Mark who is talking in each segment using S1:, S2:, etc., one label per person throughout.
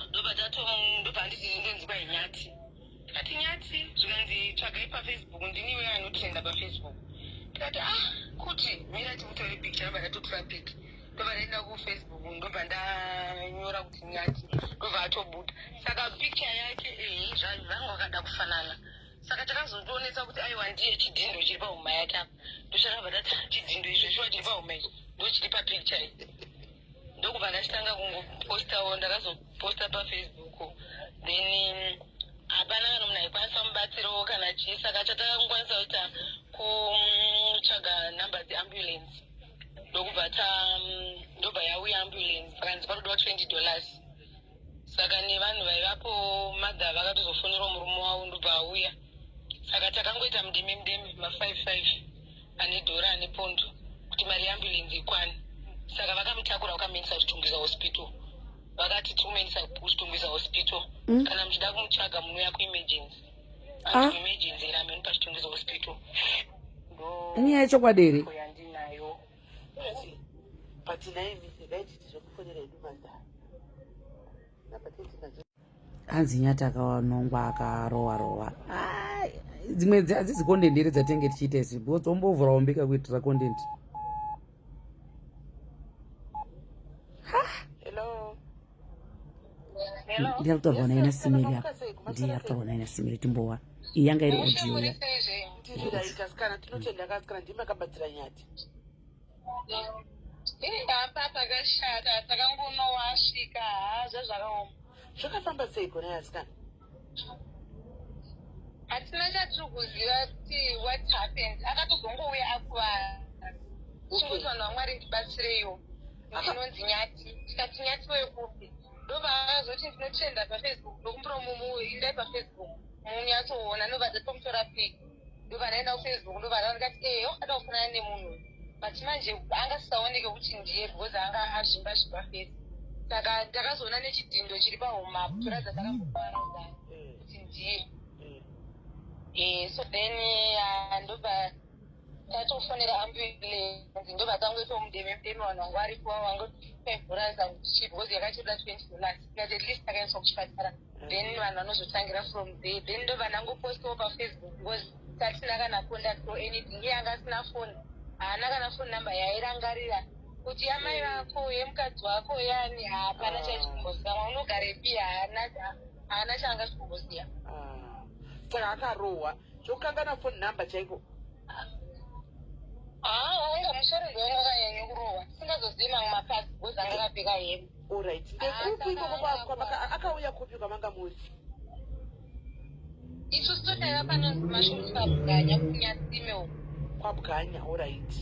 S1: ndobva tato ndobva anditi ndonzi kwai nyati tikati nyati zvikanzi tsvagai pafacebook ndiniwe anotrenda pafacebook tikati ah kuti mira tikutore picture ndobva ndatotora pic ndobva ndaenda kufacebook ndobva ndanyora kuti nyati ndobva atobuda saka picture yake ehe zvanhu vangu vakada kufanana saka takazotoonesa kuti aiwa ndiye chidhindo chiri pahuma yake apa ndochakabva tati chidhindo izvozvo chiri pahuma ichi ndochiri papicture iyi ndokubva ndachitanga kungopostawo ndakazoposta pafacebook then hapana kana munhu aikwanisa mubatsiro kana chii saka chatanga kukwanisa kuita kutsvaga number dzeambulance ndokubva ta ndobva yauya ambulance saka ndipa kudiwa twenty dollars saka nevanhu vaivapo madha vakatozofonerawo murume wavo ndobva auya saka takangoita mudeme mudeme mafive five ane dhora ane pondo kuti mari yeambulenzi ikwane saka vakamutakura vakamuendesa kuchitungwiza hospital vakati tikumaendesa kuchitungwiza hospital mm. kana muchida kumutsvaga munouya kuemergency ah. emergency iri ameno pachitungwiza hospital
S2: nyaya yechokwadi here yandinayo but dai dai
S3: titi zvekufonera edu madhara
S2: hanzi nyati akawanongwa akarowa rowa dzimwe hadzizi content here dzatenge tichiita isi because ombovhura ombika kuitira content ndiri kutaurwa naina simiri apa ndiri kutaurwa naina simiri timbowa iyi yanga iri audio ya
S1: apa pakashata takangonowasvika haa zvazvakaoma zvakafamba
S3: sei gore asikana
S1: hatina chatiri kuziva kuti what happened akatozongouya akuvara chikuti vanhu vamwari ndibatsireiwo ndinonzi nyati tikati nyati wekupi ndovazoti ndinotenda pafacebook ndokumbura mumuindai pafacebook munyatsoona nobva dzatomutora piki ndovanaenda kufacebook ndovana ndikati ee eh, wakada kufanana nemunhu but manje anga sisaoneke kuti ndiye because anga azvimba zvimba fesi saka ndakazoona nechidhindo chiri pahomap toradza takamboparauza kuti ndiye eh, so then ah, ndobva tatofonera ambulance ndobva tangoitomudeme mudeme vanhu vanga varipo vangotaivhura zangu chibhozi yakachirira twenty dollars at least takaendeswa kuchipatara mm. then vanhu vanozotangira from there then ndo vanangopostiwo pafacebook because tatina kana contact or anything iye anga asina foni haana kana foni number yairangarira kuti yamai vako yemukadzi wako yani hapana chaichikumbozikama unogarepi haana haana chaanga chikumboziva
S3: ah. saka akarohwa zvokukangana foni number chaiko haa
S1: ah, wanga musoro ndiwanga kanyanya kurohwa singazozivi mamwe mapasi bhozi anga kapfeka hembe Alright. Ndekupi
S3: ikoko kwamaka akauya kupi kwamanga muri?
S1: Isu sitodaiva panonzi mashoni kwabwanya kunyasime uko. Kwabwanya,
S3: alright.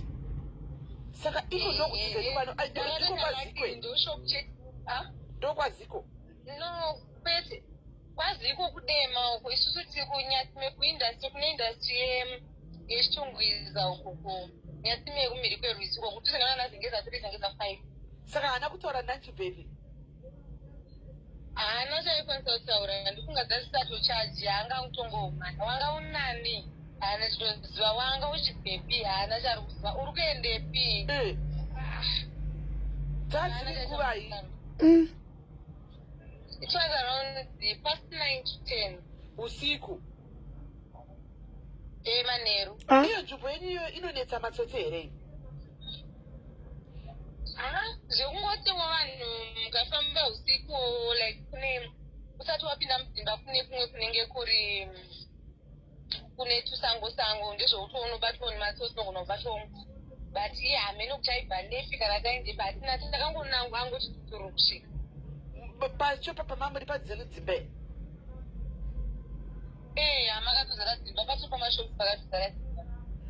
S3: Saka iko ndokutizeni pano iko kwazikwe. Ndokwaziko. No,
S1: kwete. Kwaziko kudema uko isusu tiri kunyasime kuindustry kune industry yemu. yechitungwiza uku kunyasimi yekumhiri kwerwizi uko kuti tisangana nazengeza tiri zengeza five saka haana kutaura
S3: nanchi bhebhi
S1: haana chaikwanisa kutaura ndifunga dzasisato chaji haanga kutongomwana wanga unani haana chitoziva wanga uchibhepi haana chari kuziva uri kuendepi eh. dzaziri
S3: nguvai mm.
S1: it was around the past nine to ten usiku Eh, manheru Ah. iyo nzvimbo yenyu
S3: iyo inonetsa matsotsi here iyi?
S1: Ah, zvekungotiwo vanhu mukafamba usiku like kune usati wapinda mudzimba kune kumwe kunenge kuri mm, kune tusango sango ndezveutoona unobatwa nematsotsi unogona kubatwa mnhu but iye hameno kuti aibva nepi kana taende pati nati takangonangu angoti tuturu kusvika M- Pacho
S3: papa mamuri padzenyu dzimba iyi.
S1: Eh, amakatozara dzimba pato pamashopu pakatozara dzimba.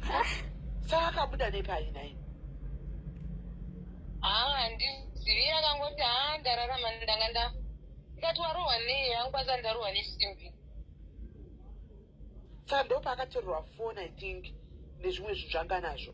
S3: Ah, saka akabuda nepai nai? Ah,
S1: handizivi akangoti ah ndararama ndanga nda ndikati warohwa nei yangu kwanza ndarohwa nesimbi.
S3: Saka ndopaakatorerwa phone I think nezvimwe zvinhu zvanganazvo.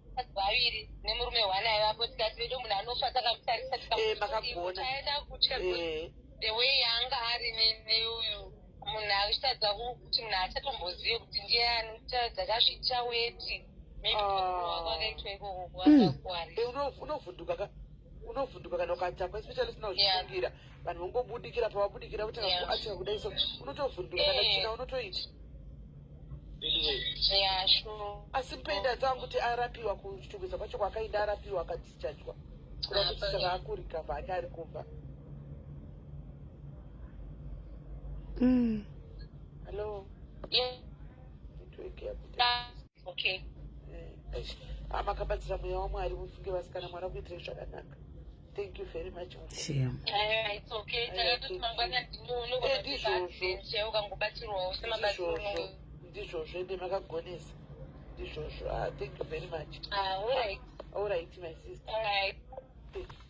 S1: vakadzi vaviri nemurume one aivapo tikati vedo munhu anofa takamutarisa tikamuaenda eh, kutya eh. the way yaanga ari neuyu munhu achitadza kuti munhu achatombozive kuti ndiye anotadza kazvitya weti
S3: unovhunduka kana ukatakwa especially usina kuzvifungira vanhu vongobudikira pavabudikira kuti acha kudai so unotovhundura kana china eh. unotoita asi penda dzangu kuti arapiwa kuchitungwiza kwacho kwaakaenda arapiwa akadzichajwa kuda kuti saka akurika vake ari kumba mm. hello yeah.
S1: okay
S3: amakabatsira mweya wamwari mufunge vasikana mwana kuitirei zvakanaka thank you very much ndizvozvo ende makagonesa ndizvozvo
S1: ah,
S3: thank you very much ah,
S1: all right
S3: my sister